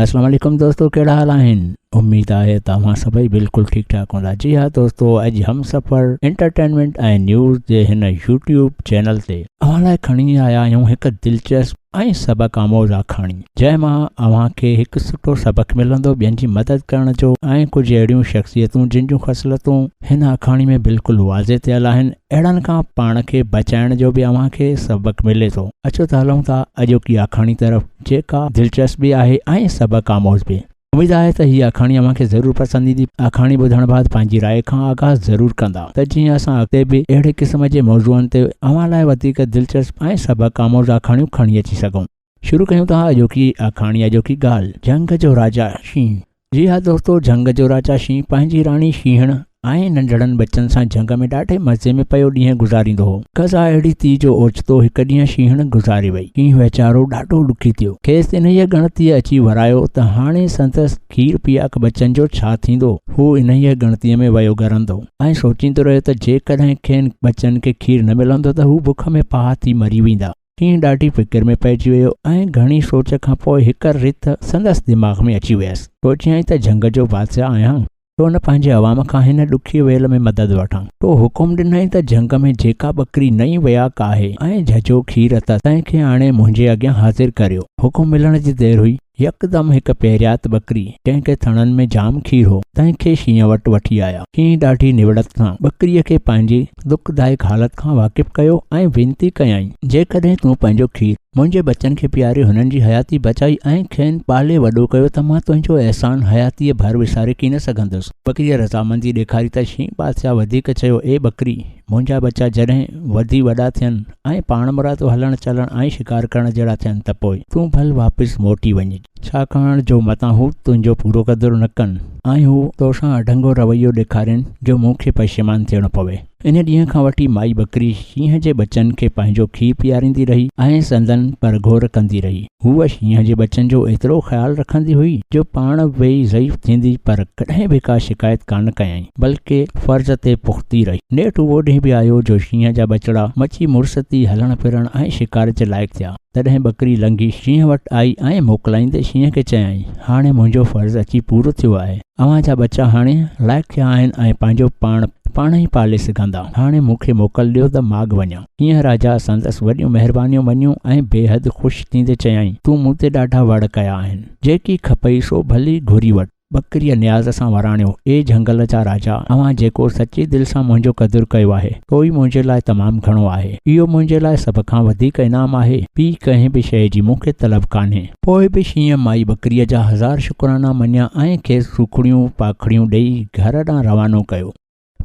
السلام عليڪم دوستو ڪهڙا حال آهن اميد آهي ته اوهان سڀئي بلڪل ٺيڪ ٺاڪ هوندا جي ها دوستو اڄ هم سفر انٽرٽينمينٽ ۽ نيوز جي هن يوٽيوب چينل تي اوهان لاء کڻي آيا آهيون هڪ دلچسپ ۽ سبق آموز آکاڻي جنهن مان اوهان کي هڪ سٺو سبق ملندو ٻين جي مدد ڪرڻ جو ۽ ڪجهه اهڙيون شخصيتون جن جون خصلتون هن آکاڻي ۾ بلڪل واضح ٿيل آهن اهڙن کان پاڻ کي بچائڻ جو به اوهان کي سبق ملي ٿو اچو ته هلون ٿا اڄوڪي آکاڻي طرف جيڪا دلچسپ به آهي ۽ سبق آموز به. اميد آهي ته هي آکاڻي اوهان کي ضرور پسند ايندي. آکاڻي ٻڌڻ بعد پنهنجي راء کان آگاهه ضرور ڪندا ته جيئن اسان اڳتي به اهڙي قسم جي موضوعن تي اوهان لاء وڌيڪ دلچسپ ۽ سبق آموز آکاڻيون کڻي اچي سگهون. شروع ڪيون ٿا اڄوڪي آکاڻي اڄوڪي ڳالهه جنگ جو راجا شينهن. جي ها دوستو جهنگ جو راجا شينهن پنهنجي راڻي شينهڻ ۽ ننڍڙن ٻچن سان جهنگ ۾ ڏاڍي مزي ۾ پيو ڏينهن گذاريندو هو قضا اهڙي ٿي جو اوچتو هڪ ڏينهن شينهڻ گذاري وئي شينهن ويچارو ڏاڍو ڏکي ٿيو کيس انهيء ڳڻتيء اچي ورايو ته هاڻي سندس کير پياڪ ٻچن جو ڇا ٿيندو هو انهيء ڳڻتيء ۾ ويو ڳرندو ۽ سوچيندو رهيو ته جيڪڏهن کين ٻچن کي کير نه ملندو ته هو بک ۾ پاهه ٿي مري ويندا ڪيئن ڏاڍي فڪر ۾ پئجي ويو ۽ گهڻي سوچ کان پوء هڪ رٿ سندس دماغ ۾ اچي ويس. سوچيائين ته جهنگ جو بادشاهه آهيان، ڇو نه پنهنجي عوام کان هن ڏکيء ويل ۾ مدد وٺان. تو حڪم ڏنائين ته جهنگ ۾ جيڪا ٻڪري نئين وياڪ آهي ۽ جهجهو کير اٿس، تنهن کي آڻي منهنجي اڳيان حاضر ڪريو. حڪم ملڻ جي دير هئي، يڪدم هڪ پهريات ٻڪري، جنهن کي ٿڻن ۾ جام کير هو، تنهن کي شينهن وٽ وٺي آيا. شينهن ڏاڍي نوڙت سان ٻڪريء کي پنهنجي دکدائڪ حالت کان واقف ڪيو ۽ وينتي ڪيائين، جيڪڏهن تون پنهنجو کير منهنجي ٻچن کي پياري هنن جي حياتي بچائي ۽ کين پالي وڏو ڪيو ته مان تنهنجو احسان حياتيء ڀر وساري ڪين سگهندس. ٻڪريء رضامندي ڏيکاري ته شينهن بادشاهه وڌيڪ چيو، اي ٻڪري! منهنجا ٻچا جڏهن وڌي وڏا ٿين ۽ پاڻمرادو هلڻ چلڻ ۽ شڪار ڪرڻ جهڙا ٿين ته پوء تون ڀل واپس موٽي وڃج، ڇاڪاڻ جو متان هو تنهنجو پورو قدر نه ڪن ۽ هو توسان اڍنگو رويو ڏيکارين جو مون کي پشيمان ٿيڻو پوي. ان ڏينهن کان وٺي مائي ٻڪري شينهن جي ٻچن کي پنهنجو کير پياريندي رهي ۽ سندن پرگهور ڪندي رهي. هوء شينهن جي ٻچن جو ايترو خيال رکندي هئي جو پاڻ به ضعيف ٿيندي پر ڪڏهن به ڪا شڪايت ڪانه ڪيائين بلڪ فرض تي پختي رهي. نيٺ اهو ڏينهن به آيو جو شينهن جا ٻچڙا مچي مرستي هلڻ ڦرڻ ۽ شڪار جي لائق ٿيا. تڏهن ٻڪري لنگهي شينهن وٽ آئي ۽ موڪلائيندي شينهن کي چيائين، هاڻي منهنجو فرض اچي پورو ٿيو آهي. اوهان جا ٻچا هاڻي لائق ٿيا آهن ۽ پنهنجو پاڻ پاڻ ئي پالي سگهندا. هاڻي مون کي موڪل ڏيو ته ماڳ وڃان. ايئن راجا سندس وڏيون مهربانيون مڃيون ۽ بيحد خوش ٿيندي چيائين، تون مون تي ڏاڍا وڙ ڪيا آهن، جيڪي کپئي سو ڀلي گهري وٺ. ٻڪريء نياز سان وراڻيو، اي جهنگل جا راجا، اوهان جيڪو سچي دل سان منهنجو قدر ڪيو آهي، سو ئي منهنجي لاء تمام گهڻو آهي. اهو منهنجي لاء سڀ کان وڌيڪ انعام آهي. ٻي ڪنهن به شيء جي مون کي طلب ڪانهي. پوء به شينهن مائي ٻڪريء جا هزار شڪرانا مڃيا ۽ کيس سوکڙيون پاکڙيون ڏيئي گهر ڏانهن روانو ڪيو.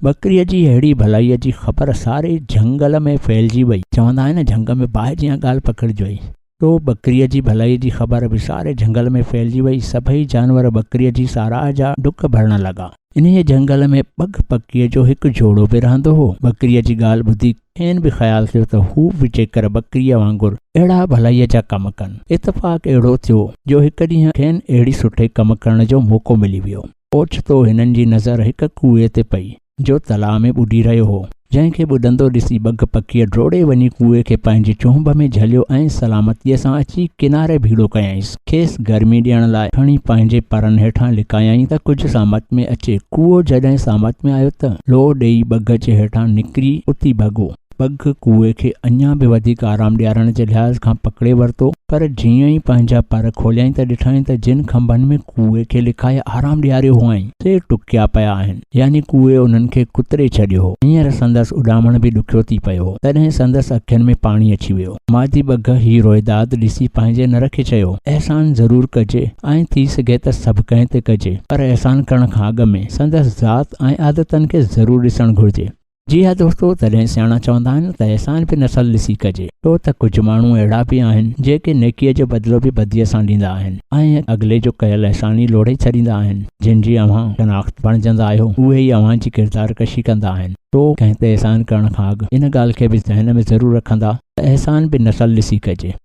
ٻڪريء جي اهڙي ڀلائيء جي خبر ساري جهنگل ۾ ڦهلجي ويئي. چوندا آهن جهنگ ۾ باهه جيان ڳالهه پکڙجوئي. سو ٻڪريء جي ڀلائيء جي خبر به ساري جهنگل ۾ ڦهلجي ويئي. سڀئي جانور ٻڪريء جي ساراهه جا ڊڪ ڀرڻ لڳا. انهيء جهنگل ۾ ٻگهه پکيء جو هڪ جوڙو به رهندو هو. ٻڪريء جي ڳالهه ٻڌي کين به خيال ٿيو ته هو به جيڪر ٻڪريء وانگر اهڙا ڀلائيء جا ڪم ڪن. اتفاق اهڙو ٿيو جو هڪ ڏينهن کين اهڙي سٺي ڪم ڪرڻ جو موقعو ملي ويو. اوچتو هنن جي نظر هڪ ڪوئي تي پئي، جو تلاء ۾ ٻڏي رهيو هو، جنهن کي ٻڏندو ڏسي ٻگهه پکيء ڊوڙي وڃي ڪوئي کي پنهنجي چونڀ ۾ جهليو ۽ سلامتيء سان اچي ڪناري ڀيڙو ڪيائينس، کيس گرمي ڏيڻ لاء کڻي پنهنجي پرن هيٺان لڪايائين ته ڪجهه سامت ۾ اچي، ڪوئو جڏهن سامت ۾ آيو ته لوء ڏيئي ٻگهه جي هيٺان نڪري اتي ڀڳو. پڳ ڪوئي کي اڃا به وڌيڪ آرام ڏيارڻ جي لحاظ کان پڪڙي ورتو، پر جيئن ئي پنهنجا پر کوليائين ته ڏٺائين ته جن کنڀن ۾ ڪوئي کي لڪائي آرام ڏياريو هئائين، سي ٽڪيا پيا آهن، يعني ڪوئي انهن کي ڪتري ڇڏيو هو. هينئر سندس اڏامڻ به ڏکيو ٿي پيو هو، تڏهن سندس اکين ۾ پاڻي اچي ويو. مادي ٻگهه هي روئداد ڏسي پنهنجي نر کي چيو، احسان ضرور ڪجي، ائين ٿي سگهي ته سڀ ڪنهن تي ڪجي، پر احسان ڪرڻ کان اڳ ۾ سندس ذات ۽ عادتن کي ضرور ڏسڻ گهرجي. جي ها دوستو، تڏهن سياڻا چوندا آهن ته احسان به نسل ڏسي ڪجي، ڇو ته ڪجهه ماڻهو اهڙا به آهن، جيڪي نيڪيء جو بدلو به بديء سان ڏيندا آهن ۽ اڳلي جو ڪيل احسان ئي لوڙهي ڇڏيندا آهن. جن جي اوهان شناخت بڻجندا آهيو، اهي ئي اوهان جي ڪردار ڪشي ڪندا آهن. سو، ڪنهن تي احسان ڪرڻ کان اڳ ان ڳالهه کي به ذهن ۾ ضرور رکندا ته احسان به نسل ڏسي ڪجي.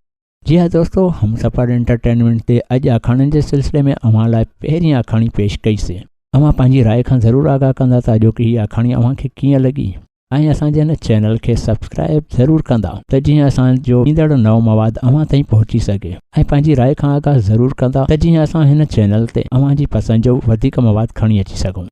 جي ها دوستو همسفر انٽرٽينمينٽ تي اڄ آکاڻين جي سلسلي ۾ اوهان لاء پهرين آکاڻي پيش ڪئي سي اوهان پنهنجي راء کان ضرور آگاهه ڪندا ته اڄوڪي هي آکاڻي اوهان کي ڪيئن لڳي ۽ اسان جي هن چينل کي سبسڪرائب ضرور ڪندا ته جيئن اسان جو ايندڙ نئون مواد اوهان تائين پهچي سگهي ۽ پنهنجي راء کان آگاهه ضرور ڪندا ته جيئن اسان هن چينل تي اوهان جي پسند جو وڌيڪ مواد کڻي اچي سگهون